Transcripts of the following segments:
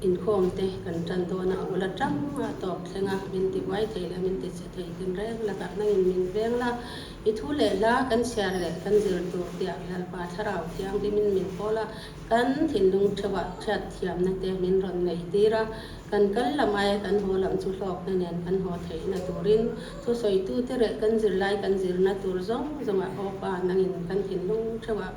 Inkhawm te kan tan dawn a, a bul atanga a tawp thleng a, min ti buai thei la, min ti chhe thei din reng lak ah nangin min veng la, i thu leh hla kan chhiar leh kan zir tur tiah Lalpa Thlarau thiang hi min min kawl a, kan thinlung theuh ah hriat thiam na te min rawn neih tir a, kan kal lam ai kan haw lam chu hlawk na nen kan haw theih na turin chu sawi tu te leh kan zir lai kan zir na tur zawng zawng ah awpa nangin kan thinlung theuh ah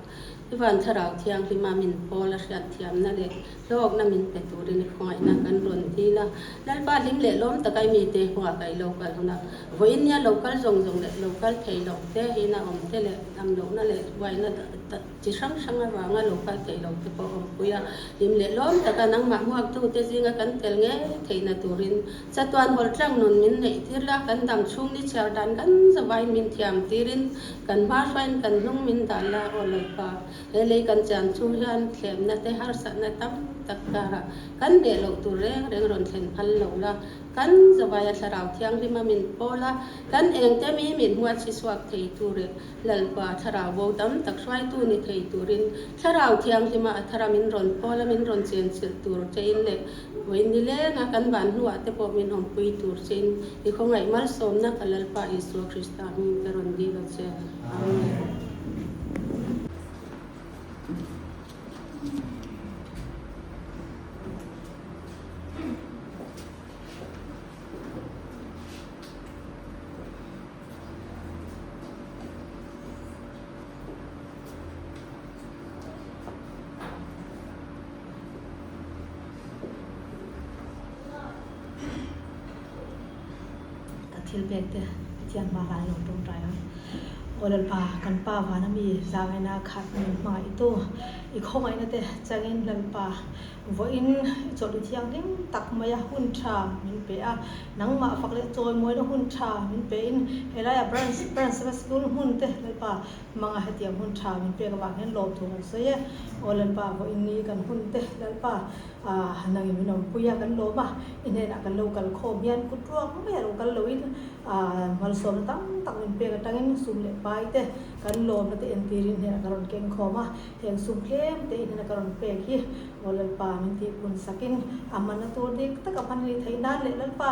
I van Thlarau Thianghlim-a min pawl a hriat thiamna leh hlawkna min pe turin i khawngaihna kan rawn tlin a. Lalpa hlim leh lawm taka i mite hnuah ka i lo kal hun a, vawiin nia lo kal zawng zawng leh lo kal thei loh te, in a awm te leh lam lohna leh buaina chi hrang hrang avanga lo kal thei loh te pawh a awmpui a. Hlim leh lawm taka nangmah hmuaktu te zinga kan tel ngei theihna turin Chatuan hawlh tlâng nun min neih tir la, kan dam chhung ni chhiar dan gan zavai min thiam tirin kan hma hruaiin kan hnung min dan la aw lo pa. He lei kan chian chu hian thlemna te harsatna tam tak karah kan beh loh tur reng reng rawn thlen phal lo la, kan zavaia thlarau thianghlim a min pawl a, kan engte mi min hmuat chhisuak thei tu reh Lalpa thlarau bo tam tak hruaitu ni thei turin thlarau thianghlima a thara min rawn pawl a, min rawn chian chilh tur tein leh Vawiin ni lenga kan van hnuah te pawh min awmpui tur chin i khawngaih malsawmna ka Lalpa Isua Krista hming te rawn dil a che. Amen. Kan thil bag te a thian hma lai lo pawm rai ang. Aw lalpa, kan pa vana mi zangena khat min hmang a i tu. I khawngaihna te changin lalpa vawiin i chawlh i thianghlim tak maia hun tha min pe a, nangmah fak leh chawimuaina hun tha min pe in helaiah Branch Primary School hun te lalpa, Hmanga hetiang hun tha min pek avang hian lawm thung uk sawi e. Aw Lalpa, haw in ni kan hun te Lalpa, aah nangin min awmpui a, kan lawm a, i hnenah kan lo kal khawm hian kut ruak mai a lo kal lo in aah malsawmna tam tak min pek atangin sum leh pai te kan lawmna te entir in i hnenah ka rawn keng khawm a, heng sum tlem te i hnena ka rawn pek hi aw Lalpa min tih hun sakin a man a tur dik tak a hman a ni thei nan leh Lalpa.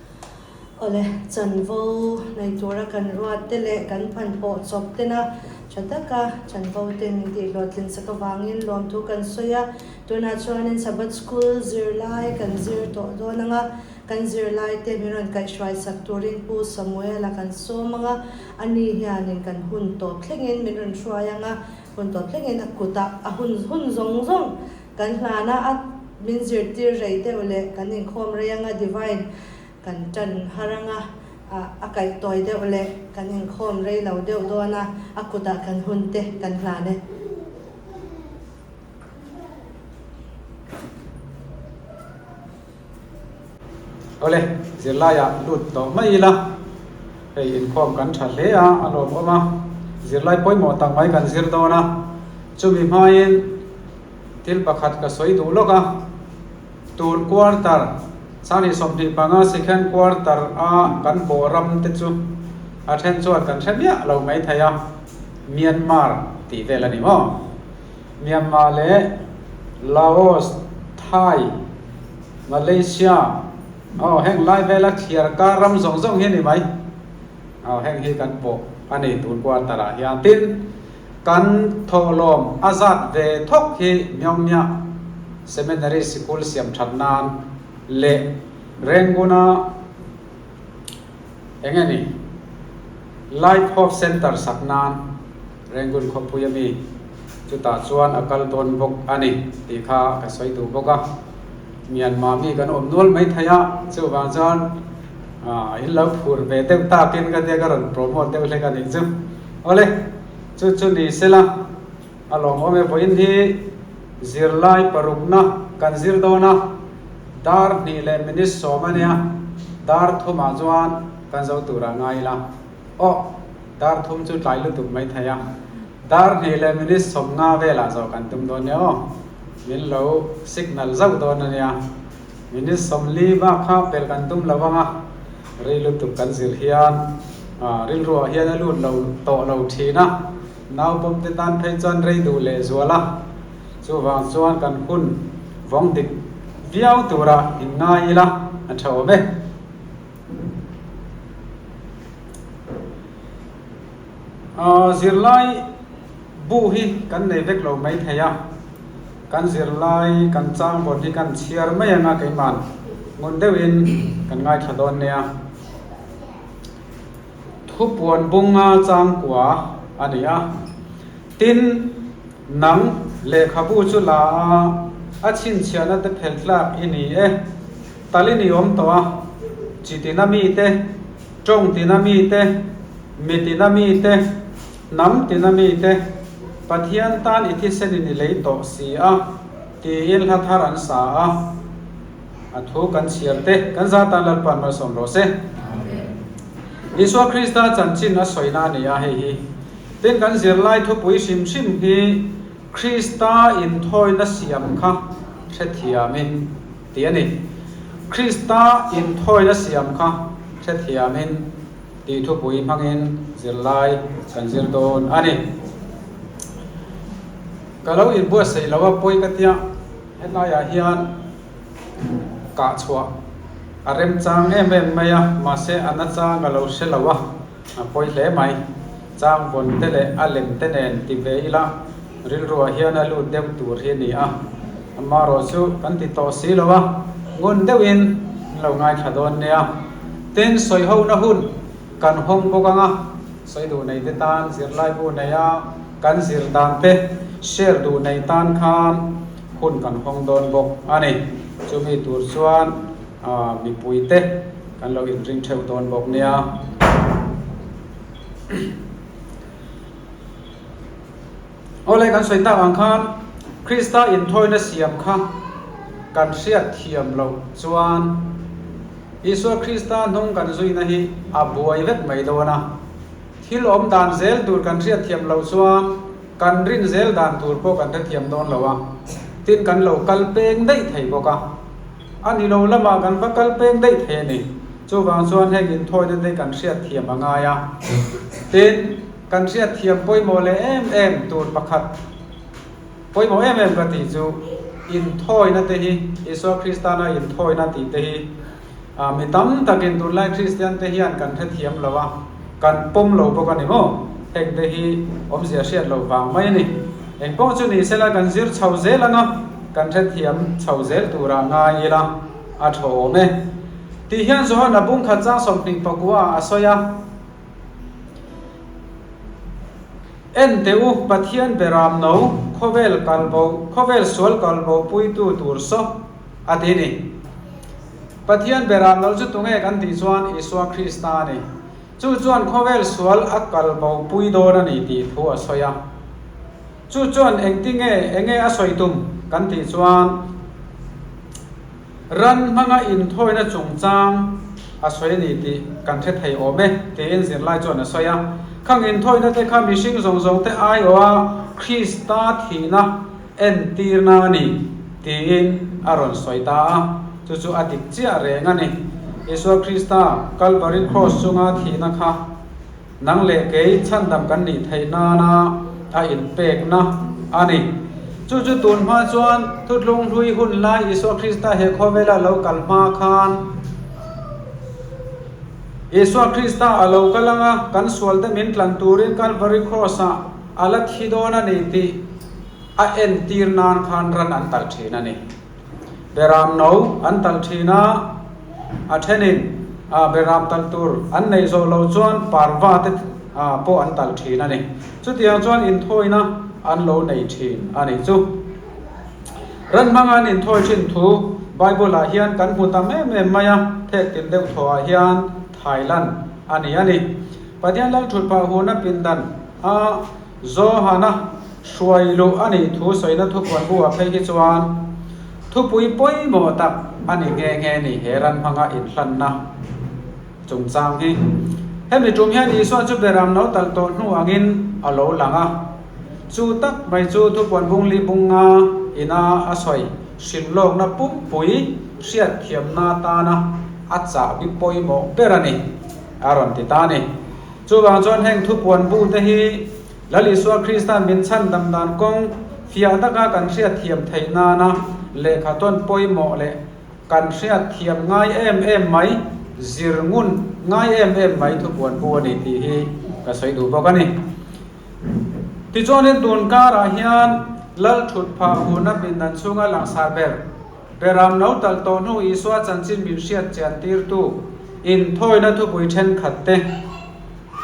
Awle, chanvo nei tura kan ruatte leh kan phan pawh chawp tena tha taka chanvo ten min tih hlawh tlin sak avangin lawmthu kan sawi a, tunah chuanin Sabbath School zir lai kan zir tawh dawn anga kan zirlaite min rawn kaih hruai sak turin Pu Samuela kan sawm anga ani hianin kan hun tawp thlengin min rawn hruai anga hun tawp thlengin a kutah a hun hun zawng zawng Kan hnana a min zirtir rei deuh leh kan inkhawm rei anga Divine kan tan har anga a kaih tawi deuh leh kan inkhawm rei lo deuh dawn a, a kutah kan hun te kan hlan e. Awle, zirlaia lut tawh mai ila, hei inkhawm kan tha hle a, a lawm awm a, zirlai pawimawh tak mai kan zir dawn a, chumi hmain thil pakhat ka sawi duh lawk a, tun quarter, sanghnih sawmhnih panga second quarter a kan pawh ram te chu a then chuan kan hre miah lo mai thei a, Myanmar tih vel a ni maw? Myanmar leh Laos, Thai, Malaysia, aw heng lai vela thliar kar ram zawng zawng hi a ni mai. Aw heng hi kan pawh a nei tur quarter ah hian tin kan thawhlawm a zat ve thawk hi Myongnya Seminary sikul siam that nan leh Renguna eng nge ni Life Hope Centre sak nan Rangoon khawpui a mi chutah chuan a kal dawn bawk a ni tih kha ka sawi duh bawk a. Myanmar mi kan awm nual mai thei a, chuvang chuan in lo phur ve deuh takin ka tia ka rawn promote deuh hlek a nih chu. Awle, chu chu ni se la, a lawm awm e vawiin hi zirlai parukna kan zir dawn a, dar hnih leh minute sawm a nia, dar thumah chuan kan zo tur a ngai ila. Awh! Dar thum chu tlai lutuk mai thei a. Dar hnih leh minute sawm nga velah zawh kan tum dawn nia aw. Min lo signal zauh dawn a nia. Minute sawm li bak kha pel kan tum lo vang a. Ri lutuk kan zir hian aah rilruah hian a lut lo tawh lo thin a. Naupawm te tan phei chuan rei duh leh zual a. Chuvang chuan kan hun vawng dik viau turah in ngai ila a tha awm e. Ahh zirlai bu hi kan nei vek lo mai thei a, kan zirlai kan changbawn hi kan chhiar mai anga keiman ngun deuhin kan ngaithla dawn nia a thupuan bunga changkua a ni a tin. Nang lehkhabu chu la a, a chhinchhiahna te phelh tlak i ni e. Tal i ni awm tawh a, chi tina mi te, tawng tina mi te, mi tina mi te, hnam tina mi te, Pathian tan i thisen i ni lei tawh si a, tiin hla thar an sa a. A thu kan chhiar te kan zat tan lalpa an malsawm rawh se. Isua Krista chanchin a sawina a ni a hei hi. Tin, kan zirlai thupui hrim hrim hi Krista inthawina siam kha hrethiamin ti a ni. Krista inthawina siam kha hrethiamin tih thupui hmangin zirlai kan zir dawn a ni. Ka lo inbuatsaih lo a pawi ka tia. Helaiah hian kahchhuah a remchang em em mai a, mahse a na chang a lo hre lo a, a pawi hle mai. Chang vawn te leh a lem te nen ti ve ila rilruah hian a lut deuh tur hi a ni a. Amarawh chu kan ti tawh si lo a, ngun deuhin an lo ngaithla dawn nia. Tin sawi hona hun kan hawng bawk ang a. Sawi duh nei te tan zirlaibu neia kan zir dan te share duh nei tan khan hun kan hawng dawn bawk a ni. Chumi tur chuan mipui te kan lo inring theuh dawn bawk nia. Awle kan sawi tak ang khan Krista inthawiina siam kha kan hriatthiam loh chuan Isua Krista hnung kan zuina hi a buai vek mai dawn a. Thil awm dan zel tur kan hriatthiam lo chuan kan rin zel dan tur pawh kan hrethiam dawn lo a, tin kan lo kal peng daih thei bawk a. A ni lo lamah kan va kal peng daih thei a ni, chuvang chuan heng inthawiina te kan hriatthiam a ngai a. Tin. Kan hriatthiam pawimawh leh em em tur pakhat pawimawh em em ka tih chu inthawina te hi Isua Kristana inthawina tih te hi mi tam takin tunlai Kristian te hian kan hrethiam lo a, kan pawm lo bawk a ni maw? Heng te hi awmzia hriat lo vang mai a ni. Eng pawh chu ni sela kan zir chho zel anga kan hrethiam chho zel tura ngai ila a thawm e. Tih hian Johana bungkhat chang sawmhnih pakua ah a sawi a. En teh u, Pathian be ram no, khawvel kalbo, khawvel sual kalbo puitu tur saw a ti ni. Pathian be ram no chu tunge kan tih chuan Isua Krista a ni. Chu chuan khawvel sual a kalbo pui dawn a ni tih thu a sawi a. Chu chuan engtinge, enge a sawi tum kan tih chuan, Ran hmanga inthawina chungchang a sawi a ni tih kan hre thei awm e tiin zirlai chuan a sawi a. Khang inthawinate kha mihring zawng zawngte aiawha Krista thihna entirna a ni tiin a rawn sawi ta a, chu chu a dik chiah reng a ni. Isua Krista Kalvari Kraws chunga thihna kha. Nang leh kei chhandam kan nih theih nana a inpekna a ni. Chu chu tun hma chuan thutlung hlui hun lai Isua Krista he khawvela lo kal hma khan Isua Krista a lo kal ang a, kan sualte min tlan turin Calvary Cross ah a la thi dawn a ni tih a entir nan khan ran an kalh thin a ni. Beram no an tal thin a, a thenin beram tal tur an nei zawh lo chuan parva te pawh an tal thin a ni. Chutiang chuan inthawina an lo nei thin a nih chu. Ran hmanga an inthawi thin thu Bible ah hian kan hmu ta em em mai a, phek tin deuh thawhah hian Thailand a ni a ni. Pathian lalṭhut pah hunna pindan a. Johana hruai luh a nih thu sawina thupuan bu ah phei hi chuan thupui pawimawh tak a ni nghe nghe ni he ran hmanga inhlanna chungchang hi. Hemi tum hian Isua chu beram no tal tawh hnu angin a lo lang a. Chu tak mai chu thupuan bung li bunga ina a sawi hrilh lawkna pumpui hriatthiamna tana a chahbi pawimawh ber a ni a rawn ti ta a ni. Chuvang chuan heng thupuan bu te hi Lal Isua Krista min chhan dang dan kawng fiah taka kan hriatthiam theih nana lehkha tawn pawimawh leh kan hriatthiam ngai em em mai, zir ngun ngai em em mai thupuan bu a ni tih hi ka sawi duh bawk a ni. Tichuanin tun karah hian Lalthut phah huna pindan chhunga langsar ber. Beram no tal tawh hnu Isua chanchin min hriat chiantirtu inthawina thupui thenkhat te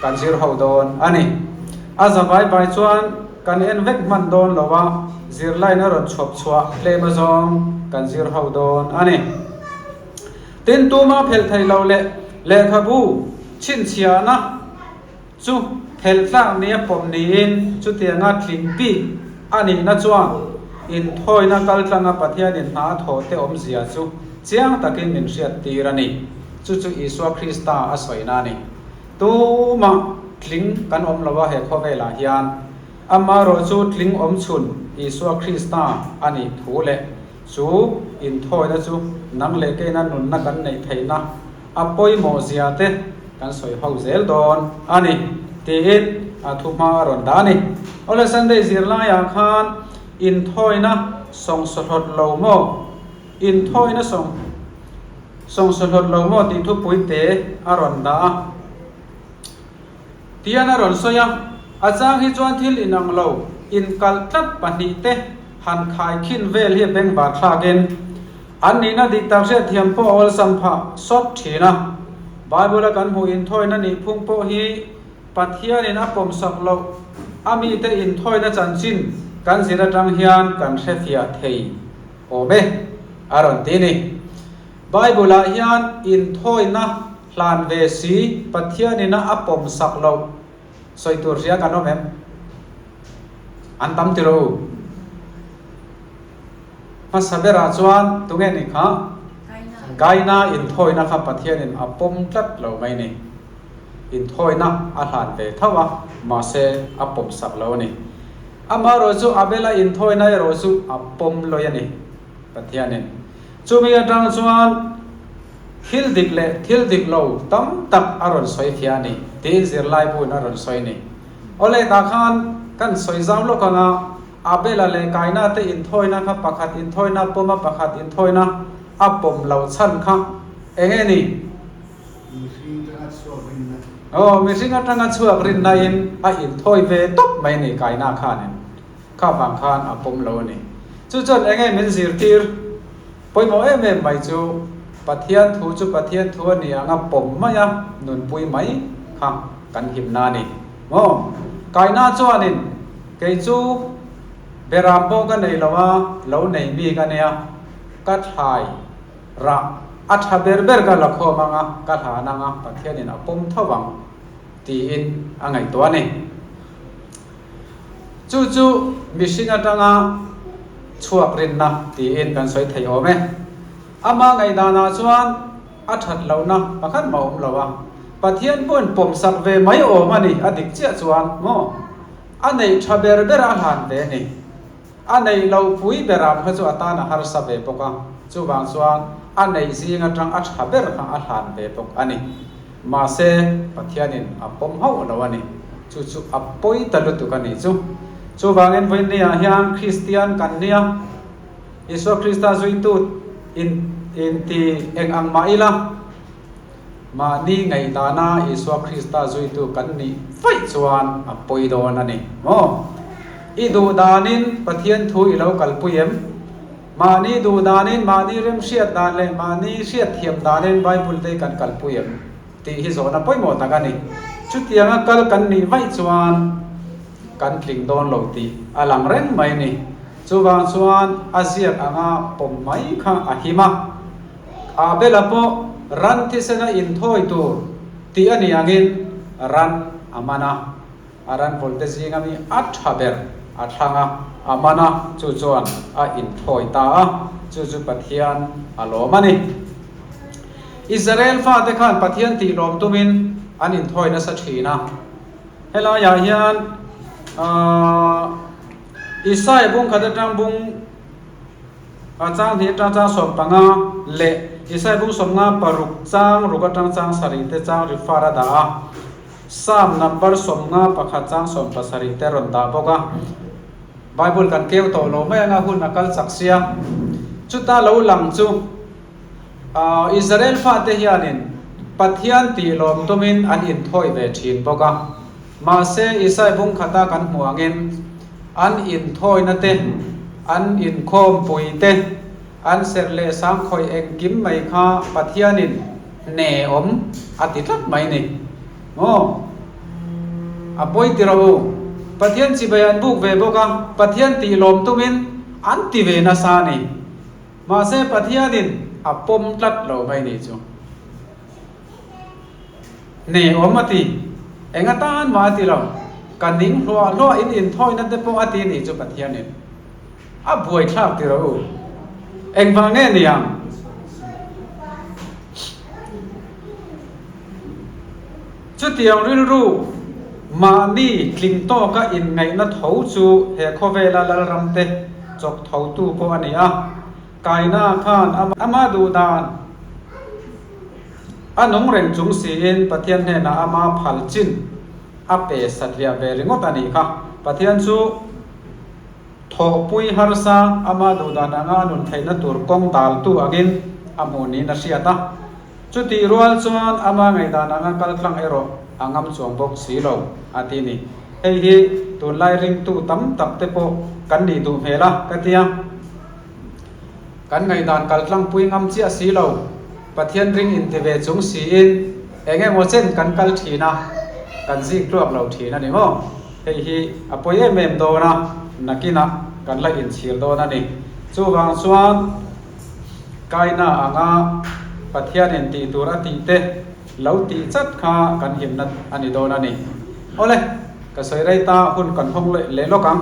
kan zir ho dawn a ni. A za vai vai chuan kan en vek hman dawn lo a, zirlaina rawn chhuap chhuah hlema zawng kan zir ho dawn a ni. Tin, tuma phelh theih loh leh lehkhabu chhinchhiahna, Chu phelh tlak ni a pawm niin chutianga tling bik a nihna chuan inthawina kal tlanga Pathianin hna thawhte awmzia chu chiang takin min hriattir a ni. Chu chu Isua Krista a sawina a ni. Tumah tling kan awm lo a he khawvelah hian. Amah rawh chu tling awmchhun Isua Krista a nih thu leh chu inthawina chu nang leh keina nunna kan neih theihna, a pawimawh zia te kan sawi ho zel dawn a ni, tiin a thu hma a rawn dah a ni. Awle Sunday zirlaiah khan inthawina sawng sawhlawt lo maw? Inthawina sawng sawng sawhlawt lo maw tih thupui te a rawn dah a. Tian a rawn sawi a. A chang hi chuan thil inang lo, inkalh tlat pahnih te han khai khin vel hi a beng bak thlak in, an nihna dik tak hriatthiam pawh a awlsam phah sawt thin a. Bible-a kan hmuh inthawina nih phung pawh hi Pathianin a pawmsak loh a mite inthawina chanchin kan zir atang hian kan hrefiah thei awm e a rawn ti a ni. Bible-ah hian inthawina. Hlan ve si, Pathian in a pawm sak loh sawi tur hria kan awm em? An tam tirh u. Hmasa berah chuan tunge ni kha? Gaina inthawina kha Pathian in a pawm tlat lo mai ni. Inthawina a hlan ve tho a, mahse a pawm sak lo a ni. Amaherawhchu Abela inthawina erawh chu a pawm lawih a ni. Pathianin. Chumi atang chuan thil dik leh thil dik lo tam tak a rawn sawi thia a ni tiin zirlaibuin a rawn sawi a ni. Awle tah khan kan sawi zau lawk ang a, Abela leh Kaina te inthawina kha pakhat inthawina pawma pakhat inthawina a pawm lo chhan kha eng nge ni? Mihring atanga chhuak rinna. Aw, mihring atanga chhuak rinna in a inthawi ve tawp mai a ni Kaina khanin. kha vang khan a pawm lo a ni. Chu chuan enge min zirtir? Pawimawh em em mai chu Pathian thu chu Pathian thu a ni ang a, pawm mai a nunpui mai kha kan himna a ni maw? Kaihna chuanin kei chu Beram pawh ka nei lo a, lo nei mi ka nia, ka thlai rah a tha ber ber ka la khawm ang a, ka hlan ang a, Pathianin a pawm tho ang tiin a ngaihtuah a ni. Chu chu mihring atanga chhuak rinna tiin kan sawi thei awm e. A hma ngaihdana chuan a that lohna pakhat mah a awm lo a, Pathian huan pawm sak ve mai awm a ni a dik chiah chuan maw? A neih tha ber ber a hlan ve a ni. A neih loh pui berah kha chu a tan a harsa ve bawk a, chuvang chuan a neih zing atang a tha ber kha a hlan ve bawk a ni. Mahse, Pathianin a pawm hauh lo a ni. Chu chu a pawi ta lutuk a ni chu. Chuvangin vawinia hian Kristian kan nia, Isua Krista zuitu in inti eng ang mah ila. mahni ngaihtahna Isua Krista zuitu kan nih faih chuan a pawi dawn a ni maw? I duh danin Pathian thu i lo kalpui em? Mahni duh danin, mahni remhriat dan leh mahni hriatthiam danin Bible te kan kalpui em? tih hi zawhna pawimawh tak a ni. Chutianga kal kan nih vaih chuan kan tling dawn lo tih a lang reng mai a ni. Chuvang chuan a ziak anga pawm mai kha a him a. A bela pawh ran thisena inthawi tur tih a ni angin ran a man a, a ran vawlte zinga mi a tha ber a thlang a, a man a, chu chuan a inthawi ta a, chu chu Pathian a lawm a ni. Israel fate khan Pathian tih lawm tumin an inthawi nasa thin a. Helaiah hian Isaiah bungkhat atang bung. A chang hnih atang chang sawm panga leh Isaibung sawmnga paruk chang ruk atang chang sarih te chang refer a dah a. Psalm number sawmnga pakhat chang sawm pasarih te rawn dah bawk a. Bible kan keu tawh lo mai anga hun a kal chak sia. Chuta lo lang chu aw Israel fa te hianin Pathian tih lawm tumin an inthawi ve thin bawk a. Mahse Isaibung khata kan hmuh angin, An inthawinate, an inkhawmpuite, an serh leh sangkhawih engkim mai kha Pathianin hne awm a ti tlat mai ni maw? A pawi tirh u. Pathian chibai an buk ve bawk a, Pathian tih lawm tumin an ti ve nasa a ni. Mahse Pathianin a pawm tlat lo mai ni chu. Nei awm a ti. Enga tan mah a ti lo. Ka ning hluah hluah in inthawina te pawh a ti nih chu Pathianin a buaithlak ti rawh u. Engvang nge ni ang? Chutiang rilru mahni tling tawka inngaihna tho chu he khawvela Lalramte chawk thotu pawh a ni a. Kaina khan ama duh dan a nung reng chung siin Pathian hnenah ama phal chin a pe satliah ve ringawt a nih kha. Pathian chu thawhpui harsa ama duh dan anga a nun theihna tur kawng daltu angin a hmuh niin a hriat a. Chutih rual chuan ama ngaihdan anga kaltlang erawh a ngam chuang bawk si lo, a ti ni. Hei hi tunlai ringtu tam tak te pawh kan nih duh hmel a ka tia. Kan ngaihdan kal tlangpui ngam chiah si lo, Pathian ring in ti ve chung siin eng emaw chen kan kal thin a, kan zing tluak lo thin a ni maw? Hei hi a pawi em em dawn a, nakinah kan la inchhir dawn a ni. Chuvang chuan kaina anga Pathian in tih tur a tih te lo tih chat kha kan himna a ni dawn a ni. Awle, ka sawi rei ta, hun kan hawng leh lawk ang.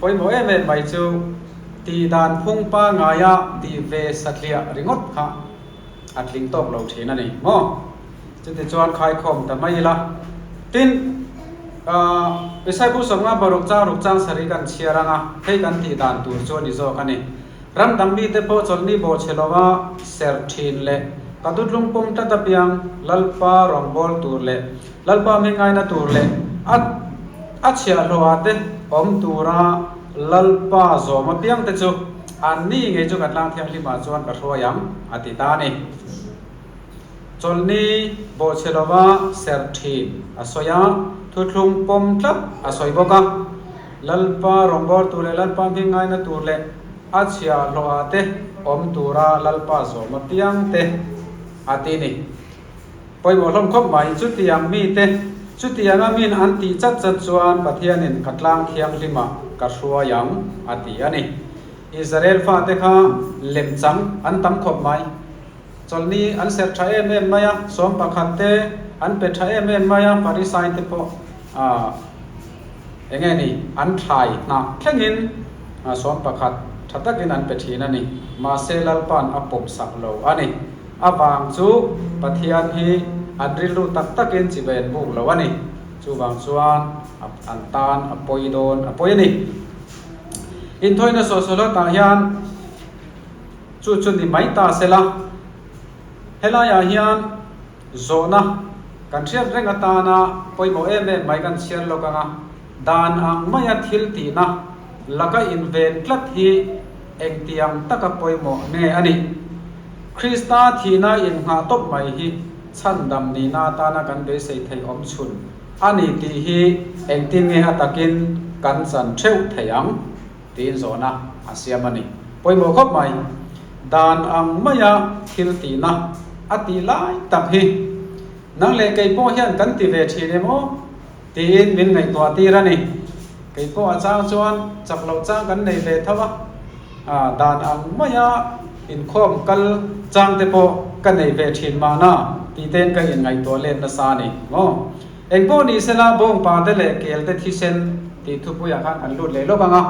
Pawimawh em em mai chu tih dan phungpa ngaia tih ve satliah ringawt kha a tling tawk lo thin a ni maw? Chutichuan khaikhawm ta mai ila. Tin, aah, Isaipur sawmnga paruk chang ruk chang sarih kan chhiar anga hei kan tih dan tur chu a ni zawk a ni. Ram dang mite pawh Chawlhni Bawhchhe lova ser thin leh ka dutlung pawm tlat apiang Lalpa rawngbâwl tur leh Lalpa mi ngaina tur leh a a chhiahhlawha te awm tura Lalpa zawm apiang te chu an ni ngei chu ka tlang thianghlimah chuan ka hruai ang, a ti ta a ni. Chawlhni Bawhchhelova serthin a sawi a, thuthlung pawm tlat a sawi bawk a. Lalpa rawngbawl tur leh Lalpa mi ngaina tur leh a chhiahhlawha te awm tura Lalpa zawm apiang te a ti ni. Pawimawh hlawm khawp mah hi chutiang mite, chutianga min an tih chat chat chuan Pathianin ka tlang thianghlimah ka hruai ang, a ti a ni. Israel fate kha lem chang an tam khawp mai. Chawlhni an serh tha em em mai a, sawm pakhat te an pe tha em em mai a, Pharisai-te pawh eng nge ni, an thlai hnah thlengin sawm pakhat tha takin an pe thin a ni. Mahse, Lalpa'n a pawmsak lo a ni. A vang chu Pathian hi an rilru tak takin chi ven buk lo a ni. Chuvang chuan a an tan a pawi dawn a pawi a ni. Inthawihnawih sawhsawhloh tah hian chu chu ni mai ta se la, helaiah hian zawhna kan hriat reng atana pawimawh em em mai kan chhiar lawk ang a. Dan ang maia thil tihna laka inven tlat hi engtiang taka pawimawh nge a nih? Krista thihna inngah tawp mai hi chhandam nihna atana kan beisei thei awm chhun a ni tih hi engtin nge a takin kan chan theuh thei ang? tiin zawn a a siam a ni. Pawimawh khawp mai. Dan ang maia thil tihna a tih lai tak hi nang leh kei pawh hian kan ti ve thin em aw? Tiin min ngaihtuah tir a ni. Kei pawh a chang chuan chak loh chang kan nei ve tho a, dan ang mai a inkhawm kal chang te pawh ka nei ve thin mahna tih ten ka inngaihtuah let nasa a ni maw. Eng pawh ni se la bawng pa te leh kel te thisen tih thupuiah khan an lut leh lawk ang a,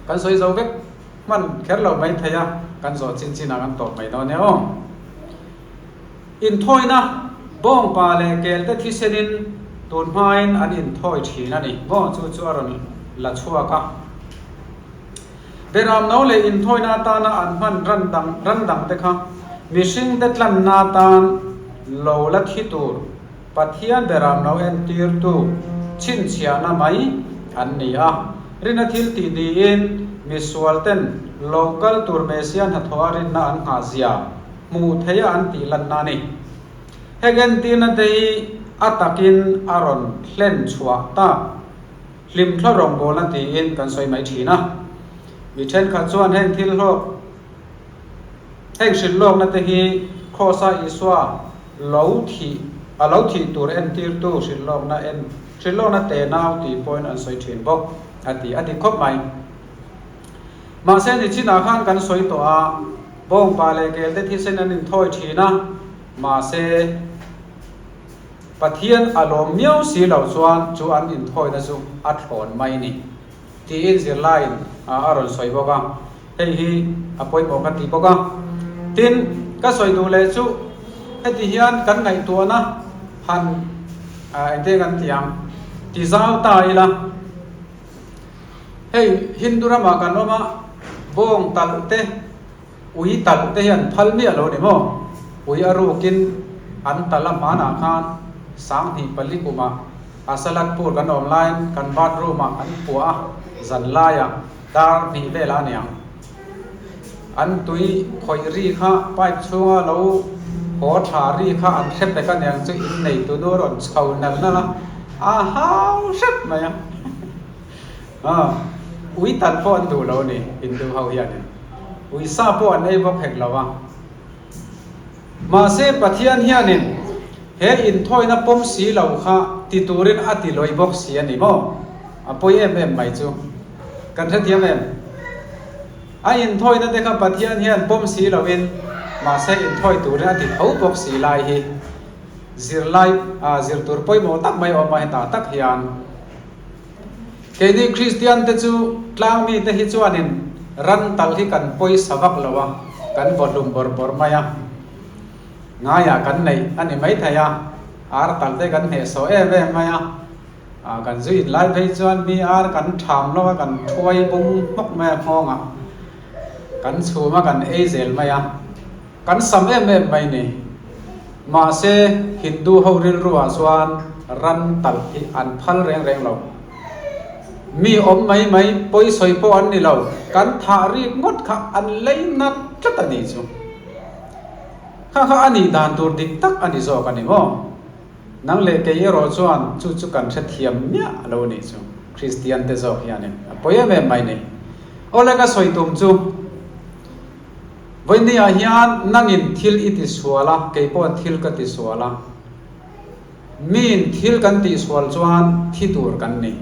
kan sawi zo vek hman kher lo mai thei a, kan zawh chinchin ang an tawp mai dawn e aw. Inthawina, Bawngpa leh kelte thisenin tun hmain an inthawi thin a ni maw chu chu a rawn la chhuak a. Berram no leh inthawina atana an hman ran dang ran dangte kha mihringte tlanna atan lo la thi tur Pathian berram no entirtu chhinchhiahna mai an ni a. Rina thil tih niin misualten lo kal tur Messia hnathawha rinna an nghah zia. hmuh theih a an tih lan na ni. Hek entirna te hi a takin a rawn hlen chhuah ta, hlim thla rawngbawlna tiin kan sawi mai thin a. Mi thenkhat chuan heng thil hlawk, heng hrilh lawkna te hi Krausa Isua lo thih, a lo thih tur entirtu hrilh lawkna en, hrilh lawkna te nau tih pawhin an sawi thin bawk a ti a ti khawp mai. Mahse, nichinah khan kan sawi tawh a, bawngpah leh kelte thisen an inthawi thin a. Mahse, Pathian a lawm miau si lo chuan chu an inthawina chu a thlawn mai ni? tiin zirlaiin a rawn sawi bawk a, hei hi a pawimawh ka ti bawk a. Tin, ka sawi duh leh chu, heti hian kan ngaihtuahna han engtin kan tih ang, ti zau ta ila. Hei Hindu ramah kan awm a, bawng talh te, ui talh te hian phal miah lo ni maw? Ui a rukin an talh a hmanah khan sanghnih pali kumah Asalatpur kan awm laiin kan bathroom ah an puah a, zanlaiah dar hnih velah a niang. An tui khawih ri kha pipe chhunga lo haw tha ri kha an hre pek aniang chu in neitu nu a rawn chho nalh nalh a, a hau hrep mai a aw ui tal pawh an duh lo ni Hindu ho hianin ui sa pawh an ei bawk hek lo a, mahse Pathian hianin he inthawina pawm si lo kha ti turin a ti lawi bawk si a ni maw? A pawi em em mai chu. Kan hrethiam em? A inthawina te kha Pathian hian pawm si loin, mahse inthawi turin a ti tho bawk si lai hi zirlai ah zirtur pawimawh tak mai a awm a, heta tak hian keini Kristian te chu tlang mite hi chuanin ran tal hi kan pawisa vak lo a, kan vawhlum bawr bawr mai a, ngaiah kan neih a ni maithei a, ar tal te kan hnehsawh em em mai a, A kan zui in lai phei chuan mi ar kan tham lawk a, kan thuai bawng hnawk mai a nghawng a, kan chhum a kan ei zel mai a, kan sam em em mai ni. Mahse Hindu ho rilru ah chuan ran tal hi an phal reng reng lo. Mi awm mai mai pawi sawi pawh an ni lo, kan thah rip ngawt kha an lei nat tlat a ni chu. Kha kha a nih dan tur dik tak a ni zawk a ni maw? Nang leh kei erawh chuan chu chu kan hrethiam miah a lo nih chu, Kristian te zawk hianin a pawi em em mai ni. Aw le ka sawi tum chu, vawinia hian nangin thil i tisual a, kei pawhin thil ka tisual a, miin thil kan tihsual chuan thi tur kan ni.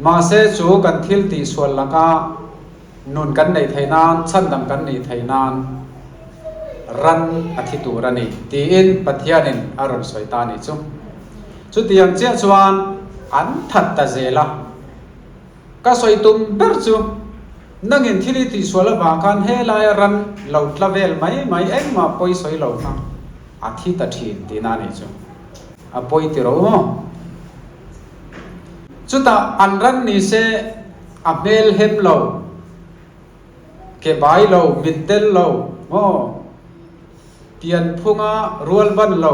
Mahse chu kan thil tihsual laka. Nun kan neih theih nan, chhan dang kan nih theih nan ran a thi tur a ni, tiin Pathianin a rawn sawi ta a nih chu. Chuti ang chiah chuan an that ta zel a. Ka sawi tum ber chu, nangin thil i tih sual avang khan helaia ran lo tla vel mai mai engmah pawi sawi lo kha a thi ta thin, tiin a nih chu. A pawi ti rau maw? Chutah an ran ni se a hmel hem lo, ke bai lo, mit tel lo maw, pian phunga rual van lo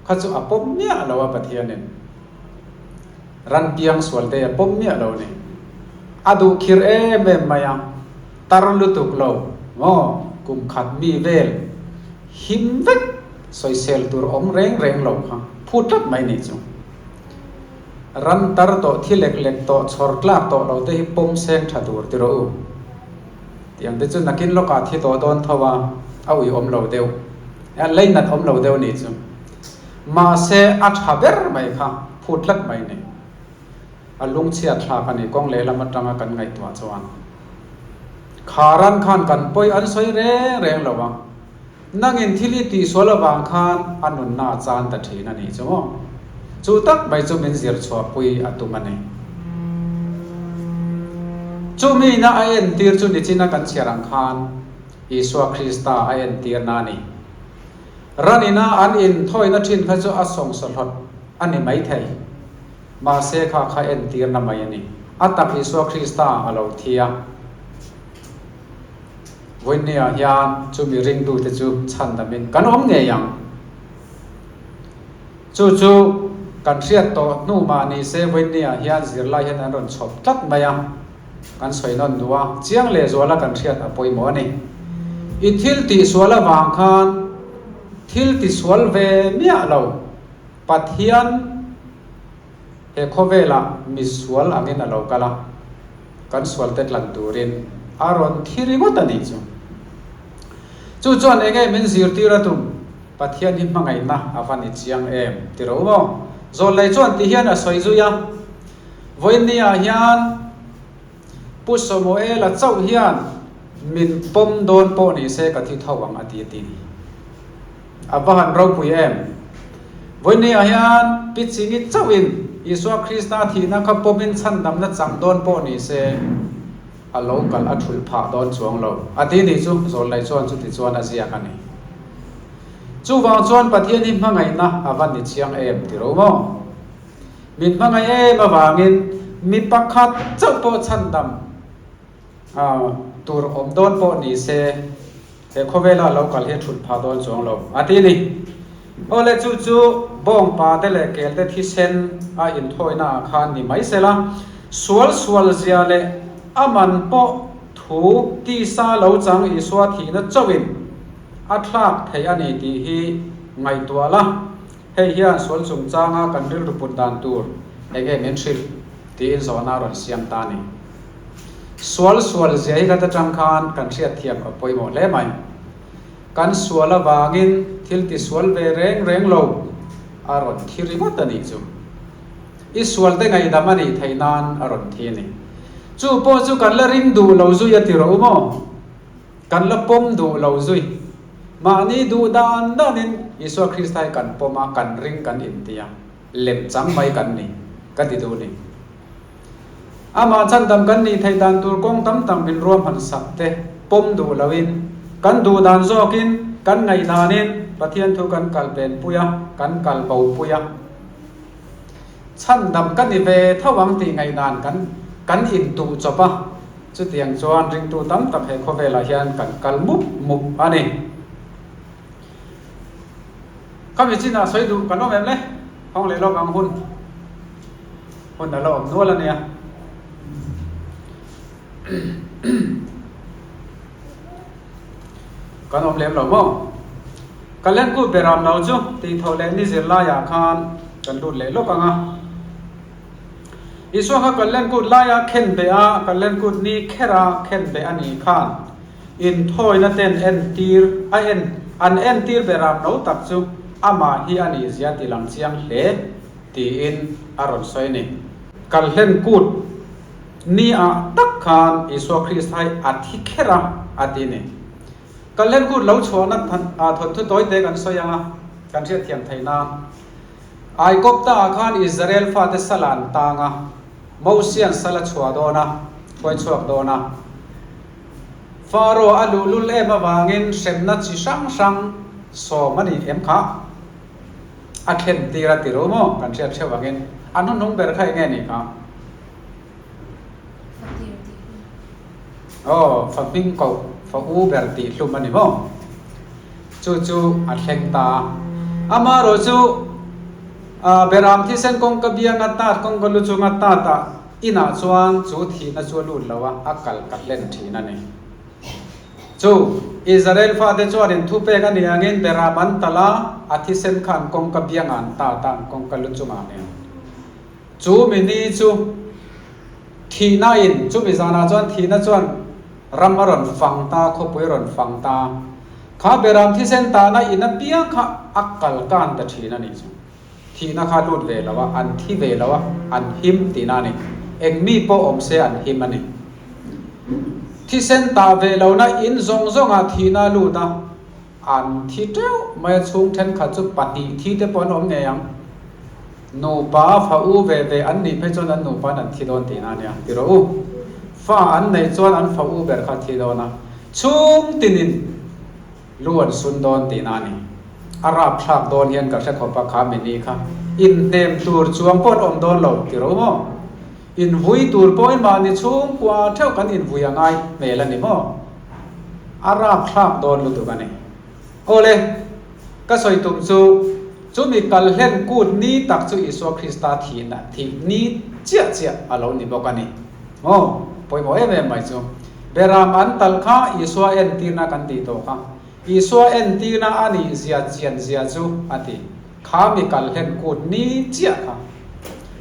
kha chu a pawm miah lo a Pathianin. Ran piang sual te a pawm miah lo ni. A duh khir em em mai a, tar lutuk lo maw, kum khat mi vel him vek sawisel tur awm reng reng lo kha phut tlat mai ni chu. Ram tar tawh, thi lek lek tawh, chhawr tlak tawh lo te hi pawm seng tha tur ti rawh u. Ti ang te chu nakin lawkah thi tawh dawn tho a, a ui awm lo deuh, a lei nat awm lo deuh ni chu. Mahse a tha ber mai kha, phut tlat mai ni. A lungchhiat thlak a ni, kawng lehlam atanga kan ngaihtuah chuan. Kharan khan kan pawi an sawi reng reng lo a. Nangin thil i tihsual avang khan a nunna a chang ta thin a nih chu maw? Chu tak mai chu min zir chhuahpui a tum a ni. Chu mina a entir chu nichina kan chhiar ang khan Isua Krista a entirna a ni. Ranina an inthawina thin kha chu a sawngsaw hlawt a ni maithei. Mahse kha kha entirna mai a ni. A tak Isua Krista a lo thi a. Voinneya hian chumi ringtute chu chhan damin kan awm ngei ang. Chu chu kan hriat tawh hnu mah ni se Voinneya hian zirlai hian an rawn chhawp tlat mai a, kan sawi nawn duh a, chiang leh zuala kan hriat a pawimawh a ni. I thil tih sual avang khan thil ti sual ve miah lo Pathian, He khawvelah mi sual angin a lo kal a, kan sualte tlan turin a rawn thi ringawt a nih chu. Chu chuan eng nge min zirtir a tum? Pathian hi hmangaihna a va ni chiang em ti ro maw? Zawllei chuan ti hian a sawi zui a, Vawinia hian, Pu Samuela chauh hian min pawm dawn pawh ni se ka thi tho ang a ti a ti. A va han ropui em? Vawinia hian Pi Chingit chauhin Isua Krista thihna kha pawmin chhandamna chang dawn pawh ni se a lo kalh a thul phah dawn chuang lo a ti ni chu Zawlnei chuan chuti chuan a ziak a ni. Chuvang chuan Pathian hi hmangaihna a va ni chiang em ti ro maw? Min hmangaih em avangin mi pakhat chauh pawh chhandam tur awm dawn pawh nise, he khawvela lo kal hi thut phah dawn chuang lo, a ti a ni. Awle chu chu bawng pate leh kelte thisen a inthawinaah khan ni mai sela, sual sual zia leh a man pawh thu tisa lo chang Isua thihna chauhin a thlak theih a ni tih hi ngaihtuah la. Hei hian sual chungchanga kan rilru put dan tur eng nge min hrilh? tiin zawhna rawn siam ta ni. Sual sual zia hi khat atang khan kan hriatthiam ka pawimawh hle mai. Kan sual avangin thil tisual ve reng reng lo a rawn thi ringawt a nih chu. I sual te ngaidam a nih theih nan a rawn thi a ni. Chu pawh chu kan la ring duh lo zui a ti rawh u maw? Kan la pawm duh lo zui. Mahni duh dan danin Isua Krista hi kan pawm a, kan ring kan inti a, lem chang mai kan ni, ka ti duh ni. Amah chhandam kan nih theih dan tur kawng tam tak min ruah hman sak te, pawm duh loin, kan duh dan zawkin, kan ngaih danin Pathian thu kan kalpenpui a, kan kalbo pui a. chhan dam ka ni ve tho ang tih ngaih dan kan kan in tuh chawp a, chutiang chuan ringtu tam tak he khawvelah hian kan kal mup mup a ni. Khami chinah sawi duh kan awm em le? Hawng leh lawk ang hun hun a la awm nual a nia. Kan awm lem lo maw? Kan let ngût ber âwm lo chu, tih thawh leh ni zirlaiah khan kan lût leh lawk ang a. Isua kha kan let ngût laia khen beh a, kan let ngût ni kher a khen beh a nih khan inthawina ten entîr a en an entîr ber âwm lo tak chu amah hi a ni zia ti lang chiang hle tiin a rawn sawi a ni. Kan let ngût Ni ah tak khan Isua Kristhai a thi kher a, a ti ni. Kal hlenkut lo chhuahna thawnthu tawite kan sawi anga kan hriatthiam thei nan, Aigopta ah khan Israel fate sal an tang a, Mosian sal a chhuah dawn a, khuaichhuak dawn a. Faraw a luhlul em avangin hremna chi hrang hrang sawm a ni em kha? A thlentir a ti ru maw kan hriat hreuh angin? A hnuhnung ber kha enge ni kha? Aw fa hming koh fa u ber tih hlum a ni maw? Chu chu a thleng ta a. Amaherawh chu Behram thisen kawng ka bia ngat nat, kawng ka lu chu ngat nat a, inah chuan chu thihna chu a lut lo a, a kal ka hlen thin a ni. Chu Israel fate chuanin thu pek a nih angin Behram an tal a, a thisen khan kawng ka bia ngan ta tan, kawng ka lu chungah nen. Chu mi ni chu thihna in chu mi zanah chuan thihna chuan ram a rawn fang ta, khawpui a rawn fang ta. Kha Behram thisen tahna in apiang kha a kal kan ta thin a nih chu. Thihna kha lut ve lo a, an thi ve lo a, an him tihna a ni. Eng mi pawh awm se an him a ni. Thisen tah ve lohna in zawng zawngah thihna a lut a. An thi teuh mai a, chhung thenkhat chu pahnih thi te pawh an awm ngei ang. Nupa fa u ve ve an nih phei chuan an nupa'n an thi dawn tihna ania ti rawh u. Fa an neih chuan an fa u ber kha a thi dawn a, chhung tinin lu an sun dawn tihna a ni. A rapthlak dawn hian ka hre khawp a, kha mi ni kha inhnem tur chuang pawh an awm dawn lo ti rawh u maw? Invui tur pawh enmahni chhungkua theuh kan invui a ngai hmel a ni maw? A rakthlak dawn lutuk a ni. Awle, ka sawi tum chu, chumi kal hlen kut ni tak chu Isua Krista thihna, thih ni chiah chiah a lo ni bawk a ni. Maw? Pawimawh em em mai chu. Berram an tal kha Isua entirna kan tih tawh kha. Isua entirna a nihzia chianzia chu a ti. Kha mi kal hlen kut ni chiah kha,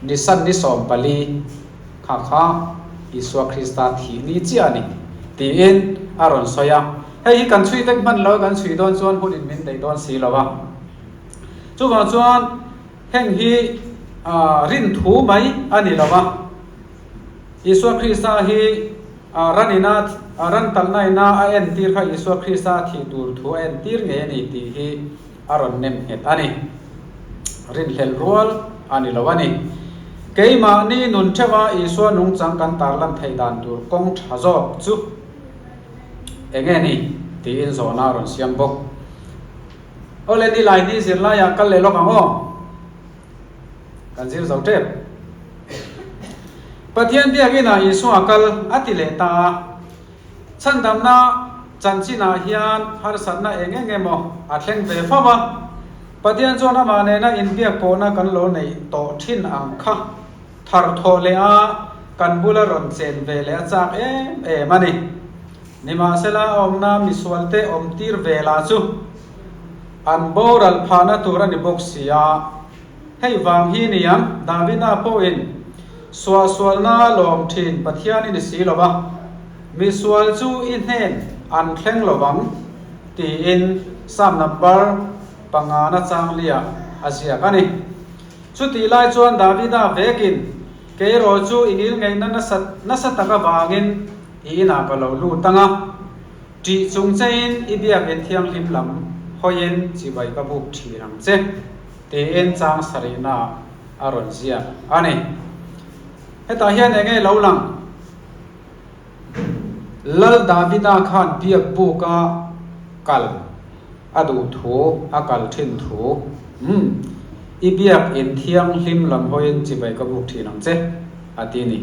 nisan ni sawm pali kha kha Isua Krista thih ni chiah a ni, tiin a rawn sawi a. Hei hi kan chhui vek hman lo, kan chhui dawn chuan hun in min daih dawn si lo a. Chuvang chuan heng hi rin thu mai a ni lo a, Isua Krista hi ranina ran talhnaina a entir kha Isua Krista thih tur thu a entir ngei a ni tih hi, a rawn nem nghet a ni. Rinhlel rual a ni lo a ni. Keimahni nun theuha Isua nungchang kan tarlan theih dan tur kawng tha zawk chu eng nge ni? tiin zawhna a rawn siam bawk. Awle ni Laini zirlaiah kal leh lawk ang aw. Kan zir zo tep. Pathian biak inah Isua kal a ti leh ta a, Chhandamna chanchinah hian harsatna eng eng emaw a thleng ve fo va, Pathian chuan amah nena inbiak pawhna kan lo neih tawh thin ang kha, thar thawh leh a kan bula rawn chen ve leh a chak em em a ni. Nimahsela a awmna misualte awmtir ve lah chu an boral phahna tur a ni bawk sia. Hei vang hi ni ang, Davida pawhin Sualsualna lawm thin Pathian i ni si lo va, misual chu i hnen an thleng lo vang, tiin Psalm number panga na changliah a ziak a ni. Chutih lai chuan Davida vekin, Keirawh chu i ngil ngeihna nasa nasa tak avangin i inah ka lo lut ang a, ṭih chung chein i Biakinn thianghlim lam hawiin chibai ka buk ṭhin ang che, tiin chang sarihna ah a rawn ziak a ni. Hetah hian eng nge lo lang? Lal Davida khan biakbuka kal a duh thu, a kal thin thu, um, i biak in thianghlim lam hawiin chibai ka buk thin ang che, a ti a ni.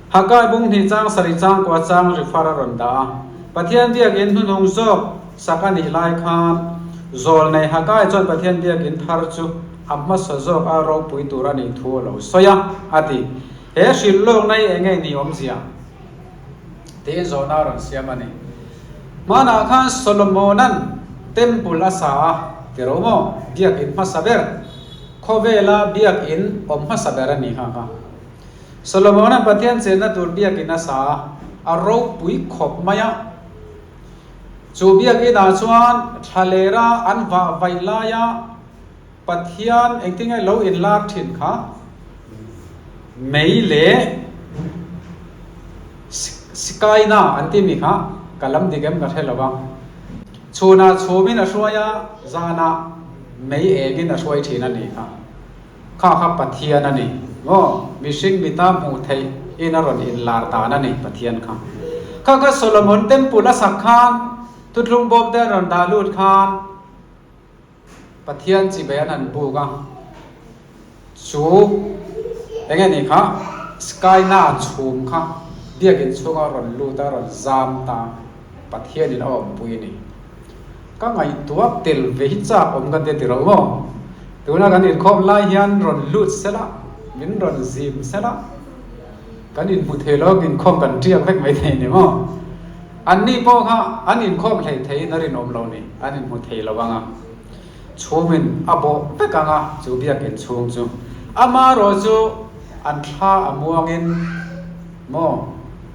Haggai bung hnihchang sarih chang kua chang rifar a rawn dah a, Pathian biakin hnunhung zawk sak a nih lai khan zawl nei Haggai chuan Pathian biakin thar chu a hmasa zawk a ropui tur a nih thu a lo sawi a, a ti. He hrilh lawkna hi eng nge ni awmzia? tiin zawhna a rawn siam a ni. Hmanah khan Solomona'n Temple a sa a ti rau maw? Biakin hmasa ber. Khawvela biakin awm hmasa ber a ni hngak a. Solomona Pathian chenna tur biakin a sa a, a ropui khawp mai a. Chu biakin ah chuan thla lera an vah vaih laia Pathian engtin nge lo inlar thin kha mei leh Shekinah an timi kha ka lam dik em ka hre lo vang. Chhunah chhumin a hruai a, zanah mei engin a hruai thin a nih kha. Kha kha Pathian a ni maw? Mihring mita hmuh theih in a rawn inlar dan a ni Pathian kha. Kha kha Solomon temple a sak khan thutthlum bawm te an rawn dah lut khan Pathian chi ve an han buk a. Chu eng nge ni kha sky na chhum kha biakin chhunga rawn lut a rawn zam ta Pathian in a awmpui a ni. Ka ngaihtuah tel ve hi chak awm ka ti ti ro maw? Tuna kan inkhawm lai hian rawn lut se la, min rawn zim se la, kan inhmu thei lawk inkhawm kan tial vek mai thei ni maw? Anni pawh kha an inkhawm hlei thei in a rinawm lo ni, an inhmu thei lo ang a. Chhungin a bawh vek ang a, chu biakin chhung chu. Ama erawh chu an thla a muangin maw?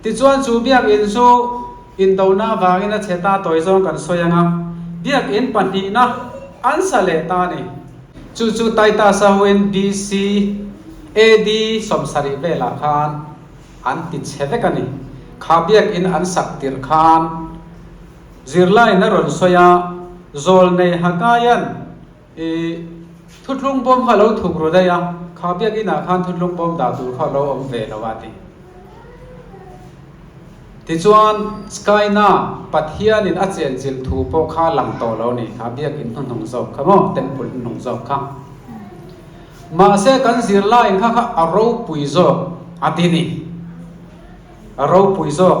Tichuan chu biak in chu indohna avangin a chhe ta tawi zawng kan sawi anga, biak in pahnihna an sa leh ta a ni. Chu chu Titus-a huin BC. AD. sawmsarih velah khan an ti chhe vek a ni. Kha biak in an sak tirh khan zirlaiin a rawn sawi a, Zawlnei Haggai-a'n, I thutlung bawm kha lo thuk ru daih a, kha biak in ah khan thutlung bawm dah tur kha lo awm ve lo a ti. Tichuan Skyna Pathian in a chian chilh thu pawh kha lang tawh lo ni, kha biak in hnuhnung zawk kha maw, temple hnuhnung zawk kha. Mahse kan zirla in kha kha a ropui zawk a ti ni, a ropui zawk.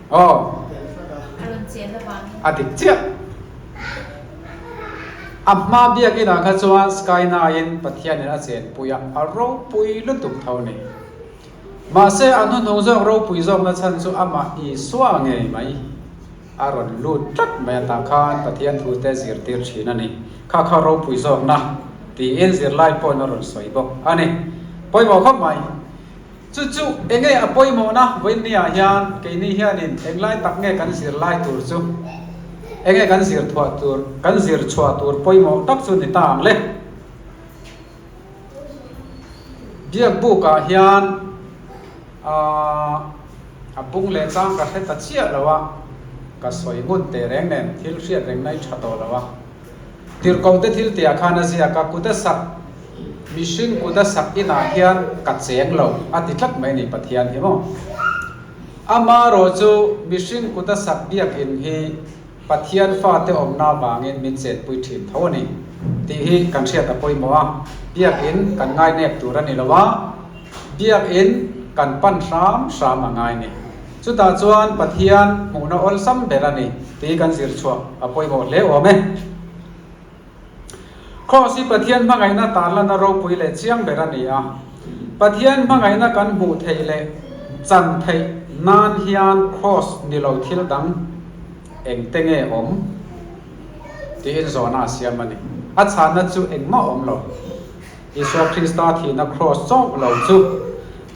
a dik chiah. A hma biakin ah kha chuan Skyna in Pathianin a chenpui a, a ropui lutuk tho ni. Mahse a hnuhnung zawk ropui zawkna chhan chu amah Isua ngei mai a rawn lut tlat mai atang khan Pathian thute zirtir thin a ni. Kha kha ropui zawkna tiin zirlai pawn a rawn sawi bawk a ni. Pawimawh khawp mai. Chu chu enge a pawimawhna vawiinnia hian keini hianin englai tak nge kan zirlai tur chu enge kan zir thuah tur kan zir chhuah tur pawimawh tak chu ni ta ang le. Biakbukah hian aah a bung leh chang ka hre ta chiah lo a, ka sawi ngun tehreng nen thil hriat reng nai tha tawh lo a. Tirkawmte thil tia khan a ziak a, Kuta sak mihring kuta sak inah hian ka cheng lo a ti tlat mai a ni Pathian hi maw? Ama rawh chu mihring kuta sak biakin hi Pathian fate awmna vangin min chenpui thin tho a ni tih hi kan hriat a pawimawh a, biakin kan ngainep tur a ni lo a, biakin kan pan hram hram a ngai a ni. Chutah chuan Pathian hmuhna awlsam ber a ni tih kan zir chhuah a pawimawh hle awm e. Kraws hi Pathian hmangaihna tarlana ropui leh chiang ber a ni a. Pathian hmangaihna kan hmuh theih leh chan theih nan hian Kraws ni lo thil dang engte nge awm? tiin zawhna a siam a ni. A chhahna chu engmah a awm lo. Isua Krista thihna kraws chauh lo chu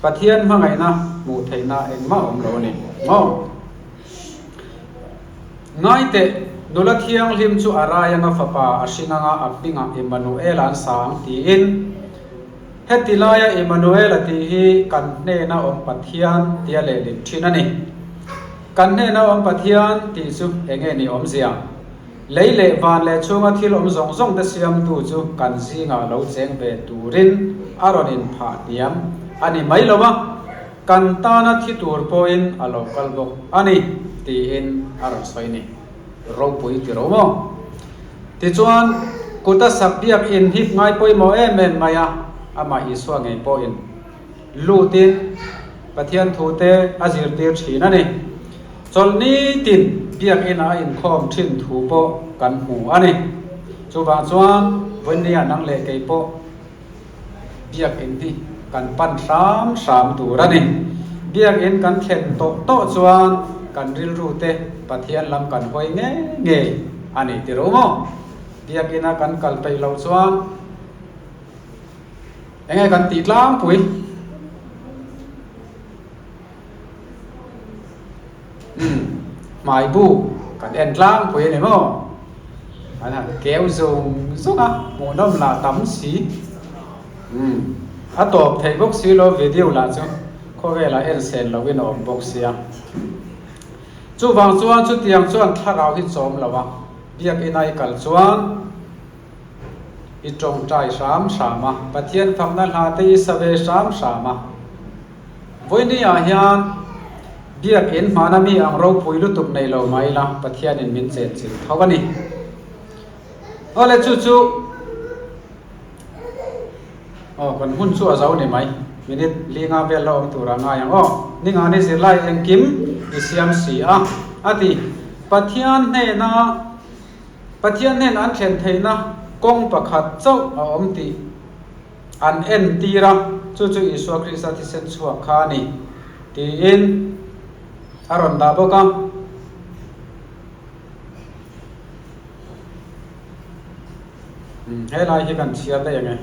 Pathian hmangaihna hmuh theihna engmah awm lo a ni maw? Ngaite, Nula Thianghlim chu a rai anga Fapa a hring anga a hmingah Immanuela an sa ang tiin, Heti laia Immanuela tih hi kan hnena awm Pathian tia leh lim thin a ni. Kan hnena awm Pathian tih chu enge ni awmzia? Lei leh van leh chhunga thil awm zawng zawng te siamtu chu kan zingah lo cheng ve turin a rawn inphah hniam a ni mai lo a, kan tana thi tur pawhin a lo kal bawk a ni, tiin a rawn sawi ni. Ropui ti ro maw? Tichuan, Kuta sak biak in hik ngai pawimawh em em mai a, amah Isua ngei pawhin. Lutin Pathian thute a zirtir thin a ni. Chawl nitin Biakina a inkhawm thin thu pawh kan hmu a ni. Chuvang chuan Vawinia nang leh kei pawh Biakin hi kan pan hram hram tur a ni. Biakin kan thlen tawh tawh chuan kan rilrute Pathian lam kan hawi ngei ngei a ni tiro maw? Biakina kan kal peih loh chuan. Enge kan tih tlangpui? Umm, hmai bu kan en tlangpui a ni maw? An han keu zawng zawng a, hmuh nawm la tam si. Umm, a tawp thei bawk si lo video lah chu khawvela en sel lo in a awm bawk sia. Chuvang chuan chutiang chuan thlarau hi chawm lo a, biak ina i kal chuan. i tawngtai hram hram a, Pathian famna hna te i sa ve hram hram a. Vawiini ah hian Biakinn hmana mi ang ropui lutuk nei lo mah ila Pathianin min chet chilh tho a ni. Awle chu chu Aw, kan hmun chu a zo ni mai. Minute li nga vel la awm tur a ngai ang. Aw, Ningani zirlai engkim i siam si a, a ti. Pathian hnena Pathian nen an thlen theihna kawng pakhat chauh a awm tih an entir a, chu chu Isua Krista thisen chhuak kha a ni, tiin a rawn dah bawk a. Helai hi kan chhiar daih ang e.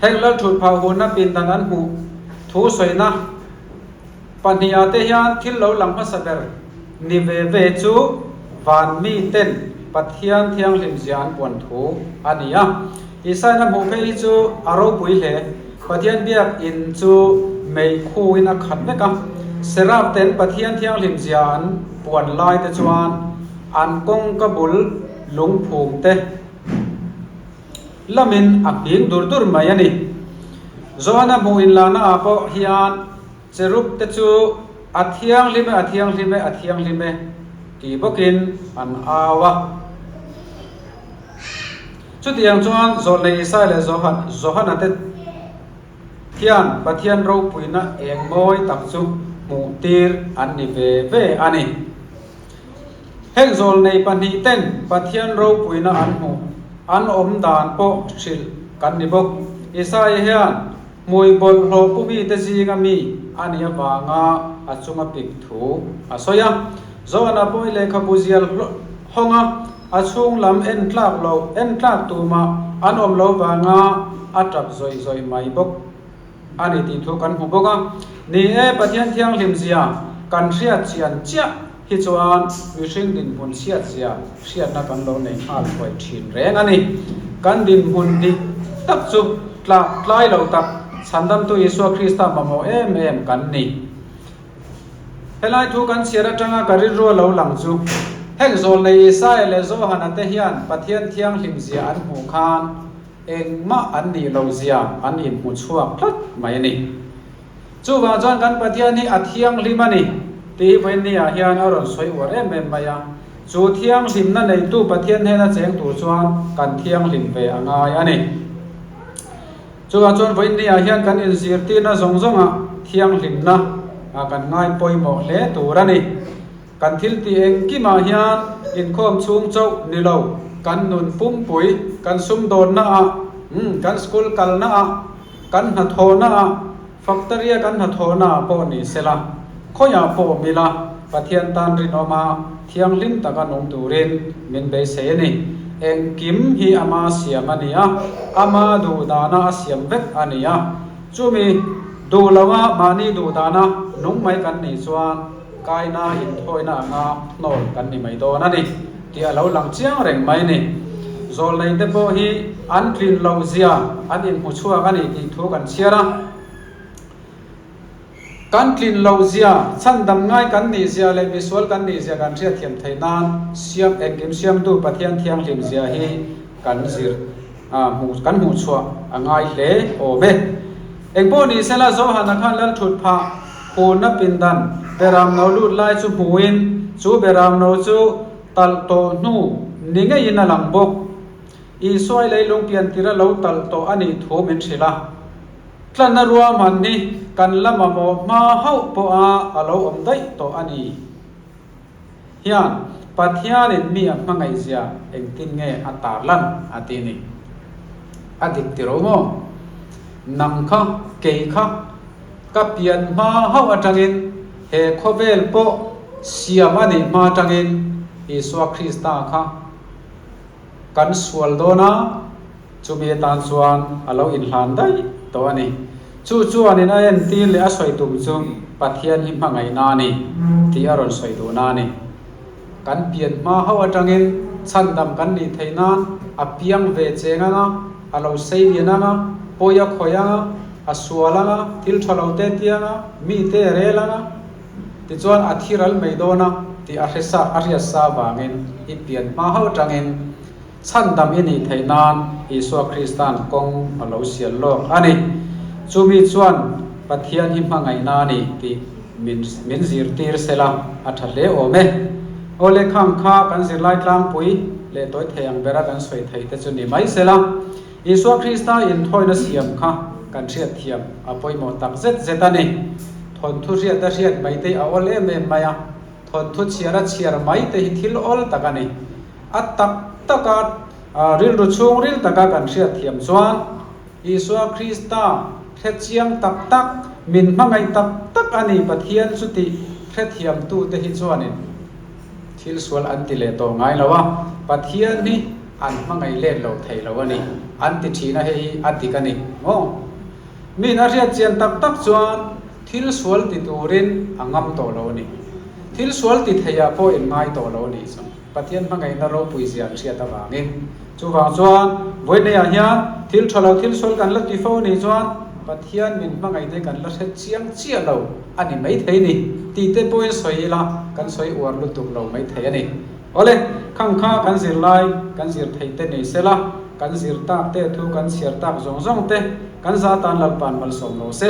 Heng lalthut phah hunna pindan an hmuh thu sawina pahniha te hian thil lo lang hmasa ber ni ve ve chu van miten Pathian thianghlim zia an puan thu a ni a. Isaiana hmuh phei hi chu a ropui hle. Pathian biak in chu mei khu in a khat vek a. Seraph ten Pathian thianghlim zia an puan lai te chuan an kawngka bul lungphum te lam in a nghing dur dur mai a ni. Johan-a hmuh in lana ah pawh hian. Cherub te chu, A thianghlim e, a thianghlim e, a thianghlim e ti bawkin an au a. Chutiang chuan Zawlnei Isai leh Johana te hian Pathian ropuina eng mawi tak chu hmuh tir an ni ve ve a ni. Heng zawl nei pahnih ten Pathian ropuina an hmuh, an awm dan pawh hrilh kan ni bawk. Isaiah hian hmui bawlhhlawh pu mite zinga mi a nih avanga a chunga pik thu a sawi a. Jonah pawh i lehkhabu zial hawng a, a chhung lam en tlak lo, en tlak tumah an awm lo vanga a ṭap zawih zawih mai bawk. a ni tih thu kan hmu bawk a, ni e, Pathian thianghlim zia kan hriatchian chiah hi chuan mihring dinhmun chhiatchhiah hriatna kan lo nei nghal huai thin reng a ni. Kan dinhmun dik tak chu tlak tlai lo tak Chhandamtu Isua Krista mamawh em em kan ni. Helai thu kan chhiar atanga ka rilru lo lang chu, hek zawlnei Isaiah leh Johana te hian Pathian thianghlim zia an hmuh khan, engmah an nih lo zia an inhmuchhuak tlat mai a ni. Chuvang chuan kan Pathian hi a thianghlim a ni tih Wendy-a hian a rawn sawi uar em em mai a. Chu thianghlimna neitu Pathian hnena a cheng tur chuan kan thianghlim ve a ngai a ni. Chuvang chuan Wendy-a hian kan inzirtirna zawng zawngah thianghlimna kan ngaipawimawh hle tur a ni. Kan thil tih engkim ah hian inkhawm chhung chauh ni lo, kan nun pumpui, kan sumdawnna ah, kan school kalna ah, kan hnathawhna ah, factory a kan hnathawhna ah pawh ni se la, khawi ah pawh mi la Pathian tan rinawm a thianghlim tak a nung turin min beisei a ni. Engkim hi ama siam a ni a, ama duh dana a siam vek a ni a. Chumi duh lo a mahni duh dana nung mai kan nih chuan, Kaina inthawina anga hnawl kan ni mai dawn a ni tih a lo lang chiang reng mai ni. Zawlnei te pawh hi an tlin lo zia an inhmu chhuak a ni tih thu kan chhiar a. Kan tlin lo zia, chhandam ngai kan nih zia leh misual kan nih zia kan hriatthiam thei nan Siam Engkim Siamtu Pathian thianghlim zia hi kan zir. A hmuh kan hmuh chhuah a ngai hle awm e. Engpawh ni se la Johan a khan lal thut phah hunna pindan beram no lut lai chu hmuin chu beram no chu talh tawh hnu ni ngeiin a lang bawk. Isuai lei lungpian tir a lo talh tawh a nih thu min hrilh a. Tlanna ruahman hi kan la mamawh hma hauh pawha a lo awm daih tawh a ni. hian Pathianin mi a hmangaihzia engtin nge a tarlan a tih ni? A dik ti ro maw? Nang kha, kei kha, ka pian hma hauh atangin he khawvel pawh siam a nih hma tangin Isua Krista kha, Kan sual dawn a, chumi atan chuan a lo inhlan daih tawh a ni. Chu chuanin a entir leh a sawi tum chu Pathian hi hmangaihna a ni tih a rawn sawi duhna a ni. Kan pian hma hauh atangin chhandam kan nih theih nan a piang ve cheng ang a, a lo seilian ang a, pawi a khawih ang a, a sual ang a, thil tha lo te tiang a, mite a rel ang a, Tichuan a thi ral mai dawn a tih a hresa a hriat sa vangin i pian hma hauh tangin chhan dam i nih theih nan Isua Krista'n kawng a lo sial lawk a ni. Chumi chuan Pathian hi hmangaihna a ni tih min min zirtir sela a tha hle awm e. Aw lekhang kha kan zirlai tlangpui leh tawithei ang bera kan sawi thei te chu ni mai sela. Isua Krista inthuaina siam kha kan hriatthiam a pawimawh tak zet zet a ni. Thawnthu hriata hriat mai te a awl em em mai a, thawnthu chhiara chhiar mai te hi thil awl tak a ni. A tak taka rilru chhungril taka kan hriatthiam chuan Isua Krista hrechiang tak tak, min hmangaih tak tak a ni Pathian chuti hrethiamtute hi chuanin Thil sual an ti leh tawh ngai lo a, Pathian hi an hmangaih let lo thei lo a ni. An ti thin a hei hi a dik a ni maw? Min a hriatchian tak tak chuan thil sual ti turin a ngam tawh lo a ni. Thil sual ti theiah pawh in ngai tawh lo a nih chuh. Pathian hmangaihna ropui zia an hriat avangin. Chuvang chuan Vawineia hian thil tha lo thil sual kan la ti fo a nih chuan Pathian min hmangaihte kan la hret chiang chiah lo. a ni maithei ni tih te pawhin sawi ila kan sawi uar lutuk lo maithei a ni. Awle, khang kha kan zir lai, kan zir thei te nei sela, kan zir tak te thu kan chhiar tak zawng zawng te kan za tan lalpan malsawm lo se.